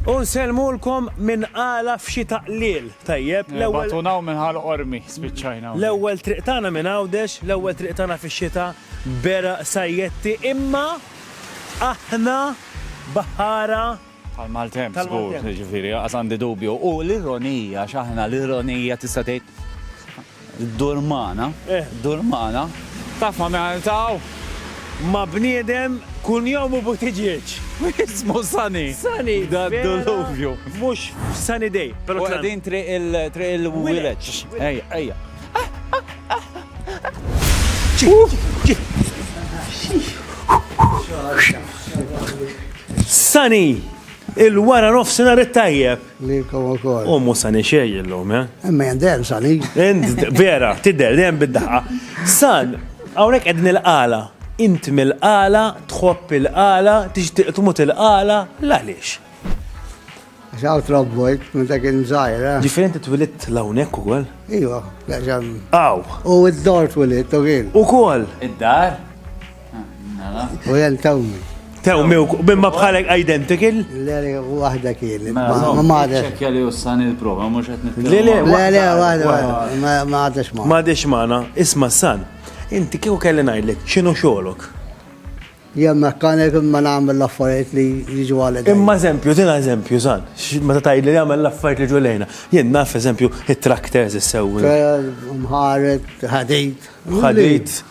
U nsellmulkom minn Qala f'xi taqliel tajjeb. L-ewwel. Batuna hawn minn Ħal Qormi spiċċajna hawnhekk. L-ewwel triq tagħna minn Għawdex, l-ewwel triq tagħna fix-xita b'għeraq sajjetti imma aħna baħħara. Tal-maltemp żgur, jiġifieri lanqas għandi dubju. U l-ironija, x'aħna l-ironija tista' tgħid. Ddur magħna, ddur magħna. Tafha minn hawn 'il t'hawn? Ma' bniedem kull jom u butiġieġ. Jismu Sunny. Sunny. Da' d-duluvju. Mhux f'Sunny Day. U qegħdin triq il-wileġġ. Ejja, ejja. Sunny, il-wara nofsinhar it-tajjeb. Lilkom ukoll. U mhux sani xejn illum, eh? Imma jen dejjem sani. Vera, tidher dejjem bid-daħqa. San, hawnhekk qegħdin il-qala. Int mill-qala, tħobb il-qala, tixtieq tmut il-qala, l-għaliex? Xaw trobbojt, minn dak inżajr. Eh? Differenti twilit lawnek u għol? Iwa, għaxan. Aw. U id-dor twilit, u għil. U kol. Id-dar? U jen tawmi. Tawmi u bimma bħalek identical? Le, le, u għahda kien. Ma maħda. Ċekja li ussan il-prova, mux għet nitkellem. Le, le, le, le, għahda, ma għadax ma. Ma għadax maħna, isma san. Inti kieku kelli najdlek, ċinu xolok? Jem mekkanik imma nagħmel l-affarijiet li jiġu għal Imma eżempju, tina eżempju, san, meta tgħidli li jagħmel l-affarijiet li ġulejna. Jien naf eżempju it-tractors issewwi. Mħaret, ħadit. Ħadit.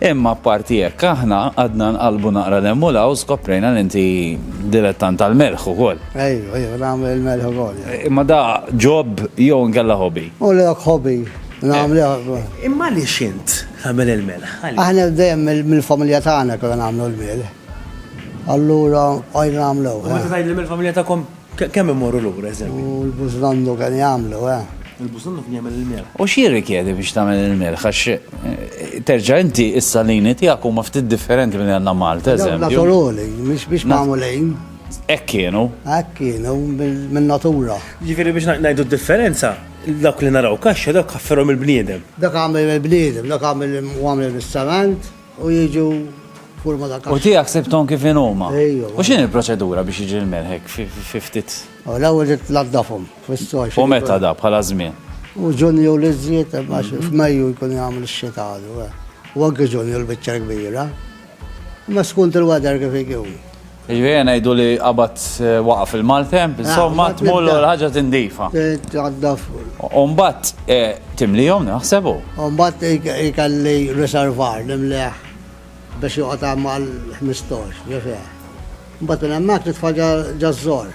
Imma apparti hekk aħna qgħadna nqallbu naqra 'l hemm u 'l hawn skoprejna li inti dilettant tal-melħ ukoll. Ejju, ejju, nagħmel il-melħ ukoll. Imma da job jew inkella hobby? Hu l-ek hobby, nagħmluh. Imma għaliex int tagħmel il-melħ? Aħna dejjem mill-familja tagħna konna nagħmlu l-melħ. Allura bqajna nagħmluh. U meta tgħidli mill-familja tagħkom Kemm imorru lura, eżempju? U l-bużlandu kien jagħmlu, eh? Il-bużlandu kien jagħmel il-milħ. U x'jirrikjedi biex tagħmel il-milħ? Għax terġa' inti s-salini tiegħek huma ftit differenti milli għandna Malta, eżempju. Naturali, mhix biex magħmulin. Hekk kienu. Hekk kienu, min-natura. Jiġifieri biex ngħidu d-differenza, dawk li naraw kaxxa dawk ħafferhom il-bniedem. Dak għamel il-bniedem, dak għamel il-ċement. U jiġu forma ta' kaxxa. U tiegħek sibthom kif inhuma. Ejju. U x'inhi l-proċedura biex jiġi l-melħ hekk fi ftit? L-ewwel tnaddafhom fis-soj. U meta da bħala żmien? U Ġunju li żżid għax f'Mejju jkun jagħmel ix-xita għadu. U anke Ġunju l-biċċa l-kbira. Imma skont il-weather kif ikun. Jiġifieri ngħidu li qabad waqaf il-maltemp, insomma tmullu l-ħaġa tindifa. U mbagħad timlihom naħseb u. U mbagħad ikelli riservar nimlieh biex joqgħod hemm għal ħmistox, ġifier. Mbagħad minn hemmhekk nitfa' ġaż-żor.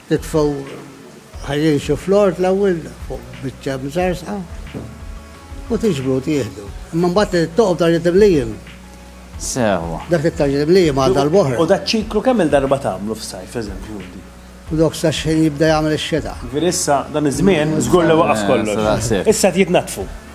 Itfgħu ħajjin xi flort l-ewwel fuq biċċa mżarżqa u tiġbru u tieħdu. Imma mbagħad toqgħu f'dan it-timlijiem. Sew. Dak it-timlijiem għal darb'oħra. U dak ċiklu kemm il-darba tagħmlu f'sajf, eżempju inti? U dok sa xħin jibda jagħmel ix-xita? Ġifieri issa dan iż-żmien żgur li waqaf kollox. Issa qed jitnaddfu.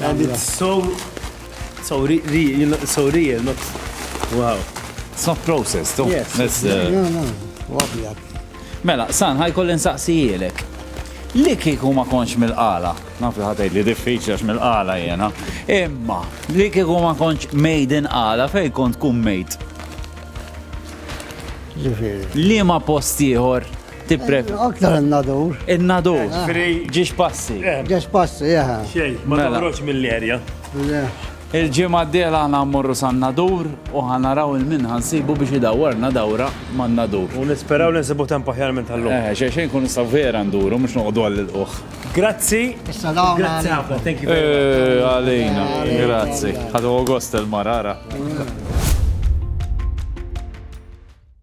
And it's so, so, re, re, you know, so real, not, wow. It's not processed, oh. Yes. That's, uh, no, no, no. Mela, san, ħaj kollin saqsijilek. Li kiku ma konx mil-qala, naf li ħatajt li diffiċli għax mil-qala jena, imma li kiku ma konx mejden qala fej kont kum mejt. Li ma postiħor Tippref. Aktar in-nadur. In-nadur. Ġiex passi. Ġiex passi, jaha. Xej, ma mela. toħroġ mill-erja. Il-ġimgħa d-dela għana mmorru san-nadur u ħanaraw il-min ħansibu biex idawwarna dawra man-nadur. U nisperaw li nsibu temp aħjar minn tal-lum. Eh, xej xejn kun nistaw vera nduru, mux noqdu għall-uħ. Grazzi. Salaw. Grazzi għafna, thank you. Eh, għalina, grazzi. Għadu għost il-marara.